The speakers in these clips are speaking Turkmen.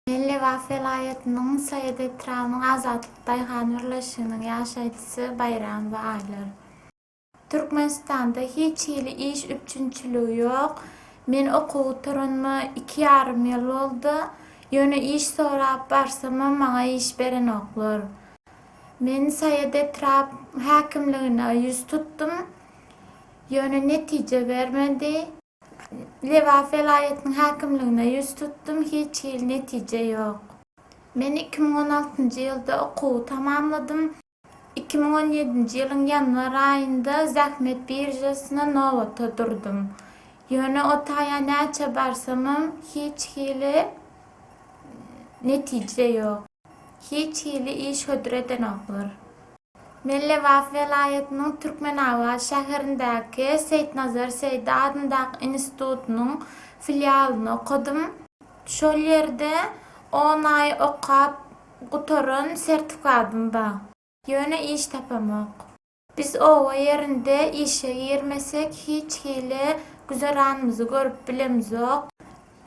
Lebap welaýatynyň Saýat etrabynyň Azatlyk daýhan birleşiginiň ýaşaýjysy Baýram we Aýlar. Türkmenistanda hiç hili iş üpjünçiligi ýok. Men okuw gutaranyma iki ýarym ýyl boldy. Ýöne iş sorap barsamam maňa iş berenoklar. Men Saýat etrap häkimligine ýüz tutdum. Ýöne netije bermedi. Lebap welaýatynyň häkimligine ýüz tutdum, hiç hili netije ýok. Men iki müň on altynjy ýylda okuwy tamamladym. Iki müň on ýedinji ýylyň ýanwar aýynda zähmet biržasyna nobata durdum. Ýöne o taýa näçe barsamam, hiç hili netije ýok. Hiç hili iş hödür edenoklar. Nebelebap welaýatynyň Türkmenabat şäherindäki Seýitnazar Seýdi adyndaky institutynyň filialyny okadym. Şol ýerde on aý okap gutaran sertifikadym bar. Ýöne iş tapamok. Biz oba ýerinde işe girmesek hiç hili güzeranymyzy görüp bilemzok.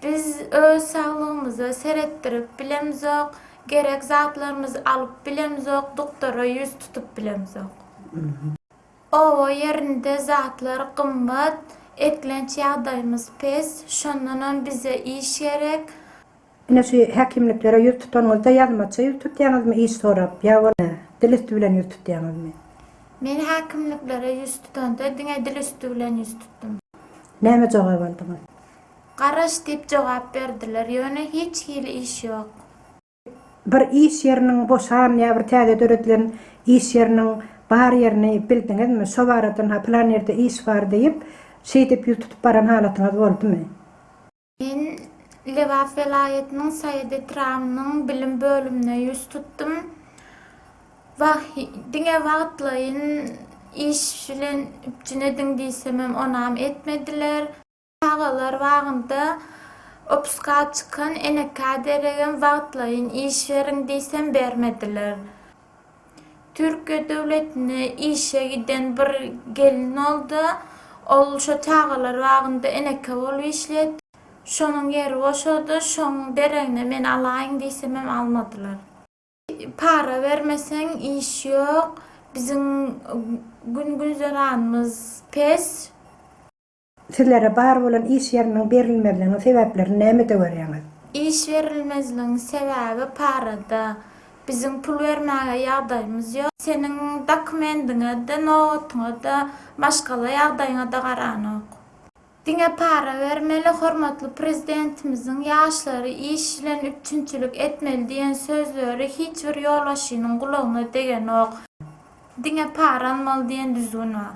Biz öz saglygymyza seretdirip bilemzok, gerek zatlarymyzy alyp bilemzok, doktora ýüz tutup bilemzok. Oba ýerinde zatlar gymmat, eklenç ýagdaýymyz pes, şondanam bize iş gerek. Ine şu häkimliklere ýüz tutanyňyzda ýazmaça ýüz tutýaňyzmy iş sorap ýa bolmasa dil üsti bilen ýüz tutýaňyzmy? Men häkimliklere ýüz tutanda diňe dil üsti bilen ýüz tutdum. Näme jogap aldyňyz? Garaş diýip jogap berdiler. Ýöne hiç hili iş ýok. Bir iş ýeriniň boşan ýa bir täze döredilen iş ýeriniň bar ýerini bildiňizmi? Şo baradan-ha plan ýerde iş bar diýip, şeýdip ýüz tutup baran halatyňyz boldumy? Men Lebap welaýatynyň Saýat etrabynyň bilim bölümine ýüz tutdum. Wah, diňe wagtlaýyn iş bilen üpjün ediň diýsemem, onam etmediler. Çagalar bagynda opuska çykan enekä deregem wagtlaýyn iş beriň diýsem bermediler. Türkiýe döwletine işe giden bir gelin boldy. Ol şo çagalar bagynda eneke bolup işleýärdi. Şonuň ýeri boşady. Şoň deregine meni alaýyň diýsemem almadylar. Para bermeseň iş ýok. Biziň gün-güzeranymyz pes. Sizlere bar bolan iş ýeriniň berilmezliginiň sebäplerini nämede görýäňiz? Iş berilmezligiň sebäbi parada. Biziň pul bermäge ýagdaýymyz ýok. Seniň dokumendiňe-de, nobatyňa-da, maşgala ýagdaýyňa-da garanok. Diňe para bermeli, hormatly Prezidentimiziň ýaşlary iş bilen üpjünçilik etmeli diýen sözleri hiç bir ýolbaşçynyň gulagyna degenok. Diňe para almaly diýen düzgün bar.